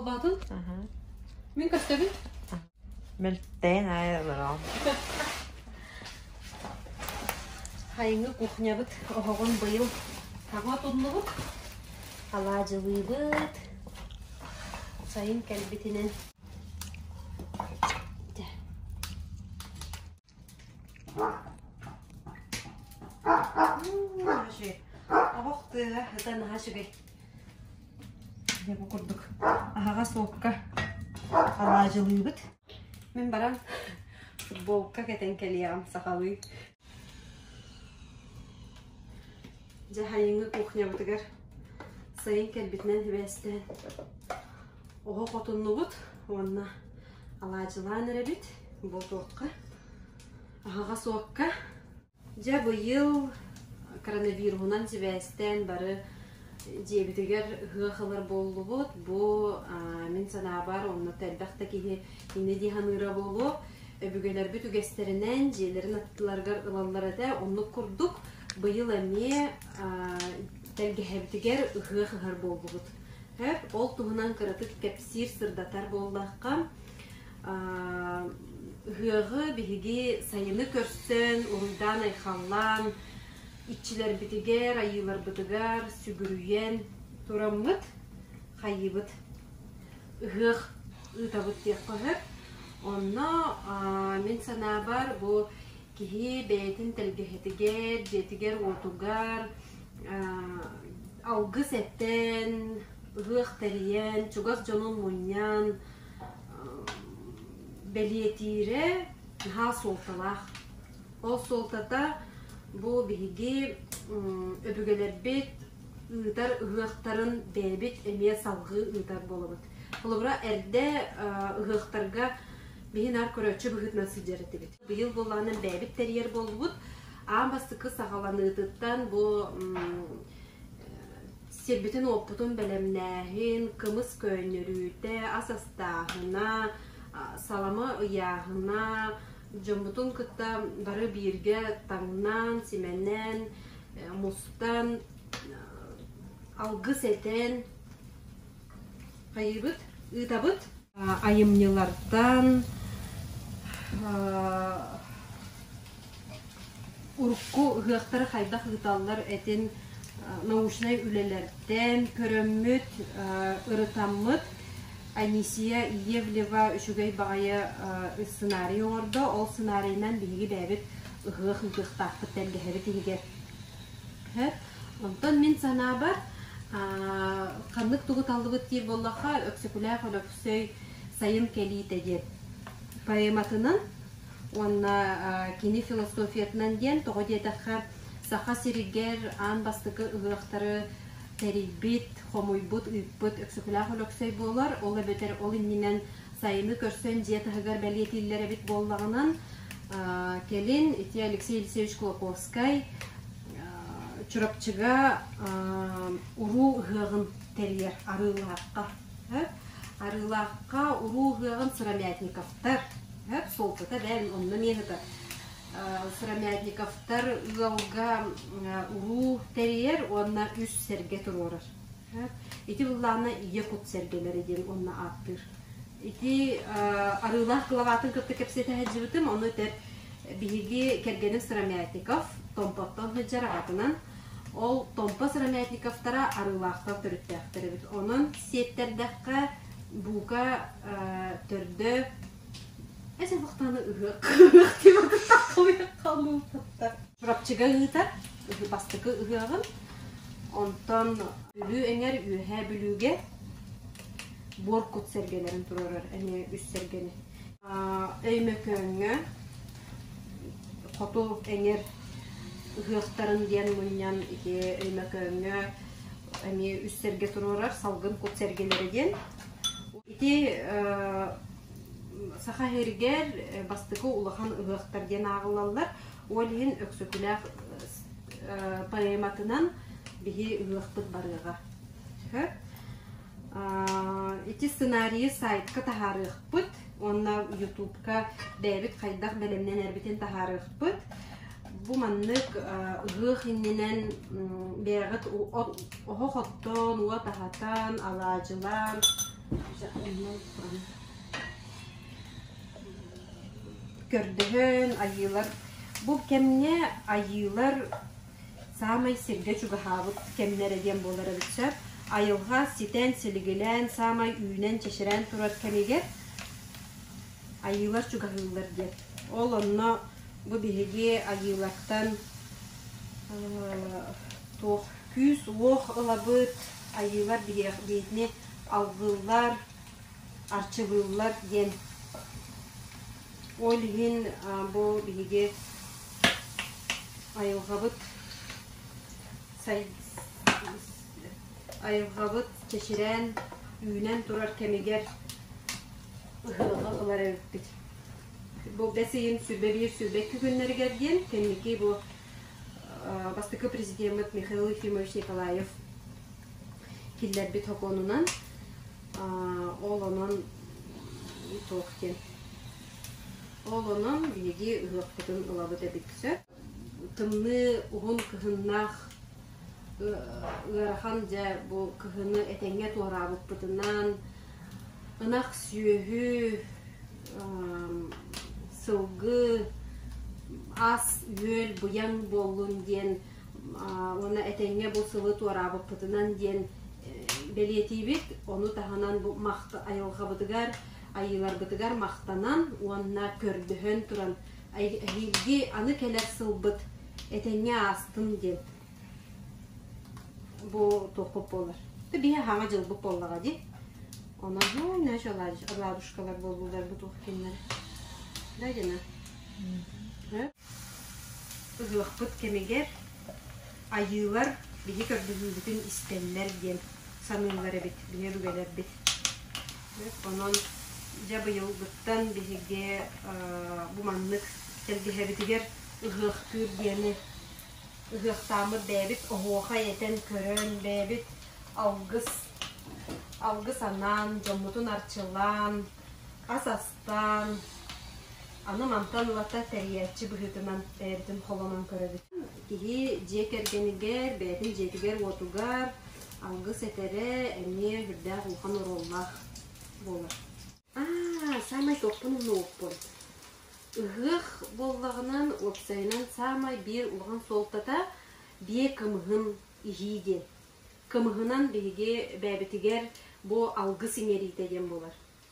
Улаатын? Аһа. Мин көстөбүн? Мөлтөөн аайы олороом. Хайыҥы кухнябыт оһоҕун быйыл таҥа туннубут. Алаадьылыыбыт. Сайын кэлбитинэн Оһох тыаҕа ыта наһаа үчүгэй. Дьэ бу курдук аһаҕас уокка алаадьылыыбыт. Мин баран футболка кэтэн кэлиэҕим сахалыы. Дьаһайыҥҥы кухнябытыгар сайын кэлбитинэн сибээстээн оһо хотуннубут уонна алаадьылаан эрэбит буотуохха аһаҕас уокка дьэ быйыл коронавируһунан сибээстээн бары дьиэбитигэр ыһыах ылар буоллубут бу мин санаабар онно элбэх да киһи иннэ дии саныыра буолуо өбүгэлэрбит үгэстэринэн дьиэлэрин аттыларыгар ылаллар этэ оннук курдук Быйыл эмиэ тэлгэһэбитигэр ыһыах ыһар буоллубут. Сөп, ол туһунан кыратык кэпсиир, сырдатар буоллахха, ыһыаҕы биһиги сайыны көрсөн, уруйдаан-айхаллаан, иччилэрбитигэр, айыыларбытыгар сүгүрүйэн тураммыт, хайыыбыт. Ыһыах ыытабыт диэххэ сөп. Онно мин санаабар, бу киһи бэйэтин тэлгэһэтигэр, дьиэтигэр-уотугар алгыс эттэн, ыһыах тэрийэн, чугас дьонун мунньан бэлиэтиирэ наһаа суолталаах. Ол суолтата бу биһиги өбүгэлэрбит ыытар ыһыахтарын бэйэбит эмиэ салгыы ыытар буолабыт. Холобура, эрдэ ыһыахтарга биһи наар көрөөччү быһыытынан сылдьар этибит. Быйыл буоллаҕына бэйэбит тэрийэр буоллубут. Аан бастакы саҕаланыытыттан бу сирбитин уоппутун бэлэмнээһин, кымыс көөнньөрүүтэ, ас астааһына, салама ыйааһына, дьоммутун кытта бары бииргэ таҥнан, симэнэн, мустан, алгыс этэн, Хайыыбыт? Ыытабыт? Айымньылартан урукку ыһыахтары хайдах ыыталлар этин научнай үлэлэртэн көрөммүт, ырытаммыт. Анисия Иевлева үчүгэй баҕайы сценарий оҥордо. Ол сценарийнан биһиги бэйэбит ыһыах ыытыахтаахпыт, тэлгэһэбит иһигэр Онтон мин санаабар, ханнык тугу таллыбыт диир буоллахха, Өксөкүлээх Өлөксөй «Сайын кэлиитэ» диэн поэматынан уонна кини философиятынан диэн тоҕо диэтэххэ Саха сиригэр аан бастакы ыһыахтары тэрийбит, хомуйбут, ыыппыт Өксөкүлээх Өлөксөй буолар. Ол эбэтэр ол иннинэн Сайыны көрсөн дьиэ таһыгар бэлиэтииллэр эбит буоллаҕынан, кэлин ити Алексей Алексеевич Кулаковскай Чурапчыга уруу ыһыаҕын тэрийэр Арыылаахха. Арыылаахха уруу ыһыаҕын Сыромятниковтар, суолтата бэл онно эмиэ ыһытар. Сыромятниковтар ыалга уруу тэрийэр уонна үс сэргэ туруорар. Ити быллаана Ийэ кут сэргэлэрэ диэн уонна ааттыыр. Ити арыылаах главатын кытта кэпсэтэ сылдьыбытым. Ону өтөр биһиги кэргэним Сыромятников Томпоттон сылдьар аҕатынан. Ол Томпо Сыромятниковтара арыылаахтар төрүттээхтэр эбит. Онон сиэттэрдэххэ, бука, төрдө Эс охтоону Чурапчыга ыытар бастакы ыһыаҕын. Онтон Бүлүү эҥэр Үөһээ Бүлүүгэ буор кут сэргэлэрин туруорар эмиэ үс сэргэни. Өймөкөөҥҥө хоту эҥэр ыһыахтарын диэн мунньан ити Өймөкөөҥҥө эмиэ үс сэргэ туруорар салгын кут сэргэлэрэ диэн Ити Саха сиригэр бастакы улахан ыһыахтар диэн ааҕыллаллар. Ол иһин Өксөкүлээх поэматынан биһи ыһыахпыт барыаҕа. Сөп. Ити сценарийы сайтка таһаарыахпыт уонна ютубка бэйэбит хайдах бэлэмнэнэрбитин таһаарыахпыт. Бу маннык ыһыах иннинэн бэйэҕит оһох оттоон, уот аһатан, алаадьылаан көрдөһөн айыылар. Бу кэмҥэ айыылар саамай сиргэ чугаһаабыт кэмнэрэ диэн буолар эбит сөп. Айылҕа ситэн, силигилээн, саамай үүнэн, чэчирээн турар кэмигэр Айыылар чугаһыыллар диэн. Ол онно бу биһиги Айыылартан туох күүс-уох ылабыт, Айыылар биһигини алгыллар, арчылыыллар диэн. Ол иһин бу биһиги айылҕабыт айылҕабыт чэчирээн, үүнэн турар кэмигэр ыһыаҕы ылар эбиппит. Бу бэс ыйын сүлбэ биир сүлбэ икки күннэригэр диэн кэнники бу бастакы президеммит Михаил Ефимович Николаев киллэрбит сокуонунан ол онон и толк диэн. Ол онон биһиги ыһыахпытын ылабыт эбит сөп. тымныы уһун кыһыннаах ыарахан дьэ бу кыһыны этэҥҥэ туораабыппытынан ынах сүөһү сылгы ас үөл быйаҥ буоллун диэн уонна этэҥҥэ бу сылы туораабыппытынан диэн бэлиэтиибит ону таһынан бу айылҕабытыгар айыыларбытыгар махтанан уонна көрдөһөн туран эһиилги аны кэлэр сылбыт этэҥҥэ аастым диэн бу туохпут буолар биһи хаама дьылбыт буоллаҕа дии онон нөөч радужкалар буолууларбыт ух киннэр да дина ыһыахпыт кэмигэр айыылар биһи көрдөрүүбүтүн истэллэр диэн саныыллар эбит биһи өбүгэлэрбит Онон, дьэ быйылгыттан биһиги бу маннык сэргэһэбитигэр ыһыахтыыр диэни ыһыахтааммыт бэйэбит оһуохай этэн көрөн бэйэбит алгыс алгыс анаан дьоммутун арчылаан ас астаан аны мантан ылата тэрийээччи быһыытынан бэйэбитин холонон көрөбүт киһи дьиэ кэргэнигэр бэйэтин дьиэтигэр уотугар Алгыс этэрэ эмиэ үрдээх улахан оруоллаах буолар. Аа, саамай туохпун умнубуппун. Ыһыах буоллаҕынан, уопсайынан саамай биир улахан суолтата биэ кымыһын иһии диэн. Кымыһынан биһиги бэйэбитигэр бу алгыс иҥэриитэ диэн буолар.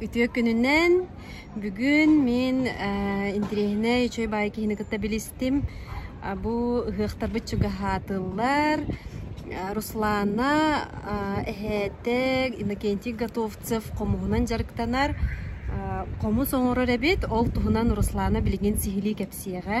Үтүө күнүнэн бүгүн мин интириэһинэй үчүгэй баай киһини кытта билистим. Бу ыһыахтарбыт чугаһаатыллар. Руслана эһээтэ Иннокентий Готовцев хомуһунан дьарыктанар. Хомус оҥорор эбит, ол туһунан Руслана билигин сиһилии кэпсиэҕэ.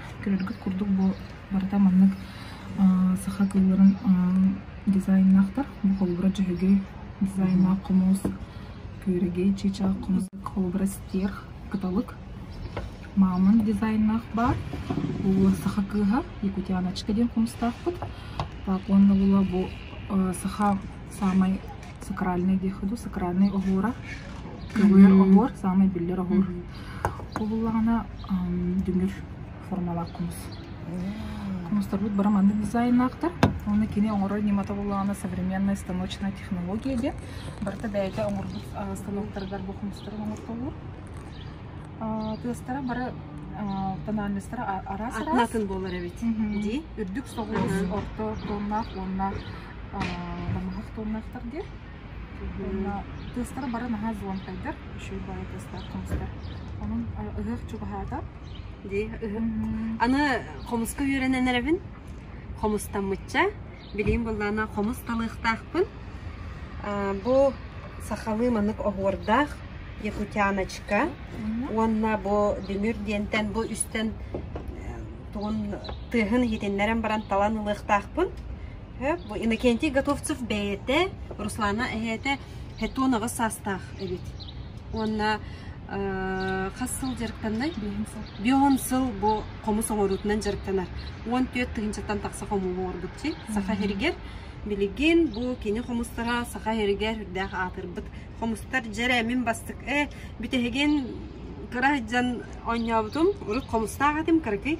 көрөргүт курдук бу барыта маннык саха кылыарын дизайннаахтар бу холобура дьөһөгөй дизайнаах хомуус күөрэгэй чыычаах хомуус холобура стиэр кыталык маамын дизайннаах баар бу саха кыыһа якутяночка диэн хомустаахпыт уонна була бу саха саамай сакральный диэх ходу сакральный оһуора кылыыр оһуор саамай биллэр оһуор Ол буоллаҕына дүҥүр формалаах кумус. Кумустарбыт бары маннык дизайннаахтар. Уонна кини оҥорор ньымата буоллаҕына современная станочная технология диэн. Барыта бэйэтэ оҥорбут станоктарыгар бу хумустары оҥортоллор. Тыастара бары тональностара араас араас. Атын буолар эбит. Дии. Үрдүк соҕус орто тоннаах уонна балаһах тоннаахтар диэн. Уонна тыастара бары наһаа звонкайдар, үчүгэй баҕайы тыастар, хомустар. Онон ыһыах чугаһаата. Дии, ыһыах. Аны хомуска үөрэнэн эрэбин. Хомустаммычча. Билиим быллаана хомус талыахтаахпын. Бу сахалыы манык оһуордаах якутяночка уонна бу дүҥүр диэнтэн бу үстэн тугун тыаһын иһитиннэрэн баран талан ылыахтаахпын. Сөп. Бу Иннокентий Готовцев бэйэтэ, Руслана эһээтэ Хетон аҕыс саастаах эбит. Уонна хас сыл дьарыктаннай? Бион сыл бу хомус оҥоруутунан дьарыктанар. Уон түөрт тыһыынчаттан тахса хомуһу оҥорбутчу. Саха иһигэр билигин бу кини хомустара саха иһигэр үрдээх аатырбыт хомустар дьэрэ мин бастык э бүтэһигин кыра дьон оонньообутум урут хомустаах этим кыракый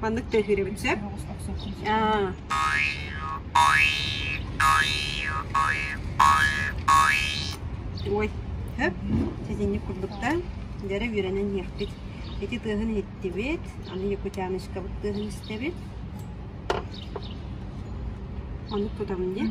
Маннык тыаһыырым сөп. Аа. Ой, хөп, сэтинньик курдук да, дьара үөрэнэн иһиэхпит. Ити тыаһын иһиттибит, аны Якутяночкабыт тыаһын истэбит. Маннык тутабын дии.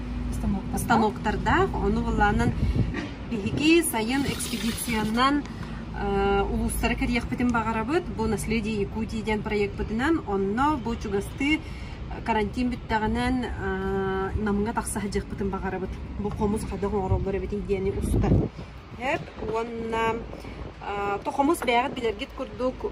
станоктардаах. Ону былаанынан биһиги сайын экспедициянан улуустары кэрийиэхпитин баҕарабыт. Бу «Наследие Якутии» диэн проекпытынан. Онно бу чугастыы карантин бүттэҕинэн Намҥа тахса сылдьыахпытын баҕарабыт. Бу хомус хайдах оҥороллор эбитий диэни устар. Эп уонна хомус бэйэҕит билэргит курдук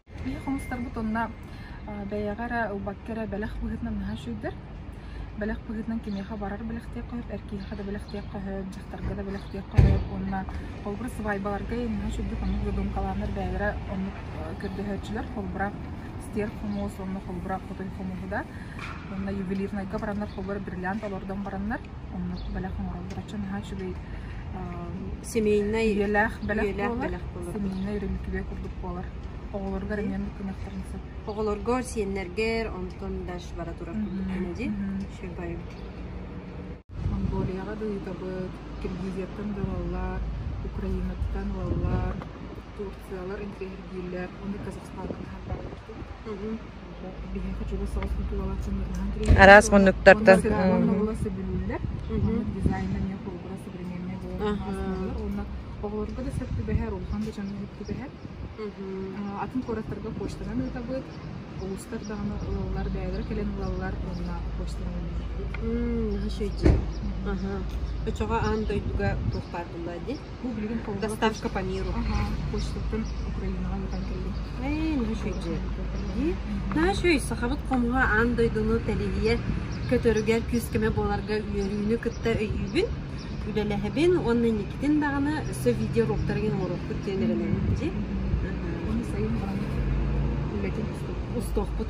Ийэ хомустарбыт онно э, бэйэҕэ эрэ ылбакка эрэ бэлэх быһыытынан наһаа үчүгэйдэр. Бэлэх быһыытынан кимиэхэ барар бэлэхтиэххэ сөп, эр киһиэхэ да бэлэхтиэххэ сөп, дьахтарга да бэлэхтиэххэ сөп. Уонна холобура сыбаайбаларга наһаа үчүгэйдик оннук додумкалааннар бэйэлэрэ оннук э, көрдөһөөччүлэр. Холобура стерк хомуос уонна холобура хотой хомуоһу да. Уонна ювелирнайга бараннар холобура бриллиант олордон бараннар Онно бэлэх оҥороллор. Оччо наһаа үчүгэй Семейнай үйэлээх бэлэх үйэлээх буолар. бэлэх буолар. Семейнай өрөмүкүбэ курдук буолар. Оҕолоргор эмиэ муккунуохтарын сөп. Оҕолоргор, сиэннэргэр, онтон дальше бара турар курдук кэмэ дии. Чыгбайым. Монголияҕа да ыытабыт, Киргизияттан да ылаллар, Украинаттан ылаллар, Турциялар интриһиргииллэр, ону Казахстааттан таһаартаабыттар дии. Араас муннуктартан. дизайна эмиэ холобура современнай буолан уонна оҕолорго да сөптүбэһэр, улахан да дьону сөптүбэһэр. Атын куораттарга почтанан ыытабыт. Улуустар даҕаны ылаллар, бэйэлэрэ кэлэн ылаллар уонна почтанан ыытабыт. Өчөҕө аан дойдуга туох баар буолла дии? доставка по миру почтатын Украинаҕа ыытан кэллим. Наш өй дьиэ. Наш өй сахабыт хомуһа аан дойдуну тэлиһийэ көтөрүгэр күүскэмэ буоларга үөрүүнү кытта өйүүбүн, үлэлэһэбин уонна инникитин даҕаны өссө видеороликтарыгын оҥоруохпут диэн эрэнэбин ити. Ону сайын баҕана үлэтин устуохпут.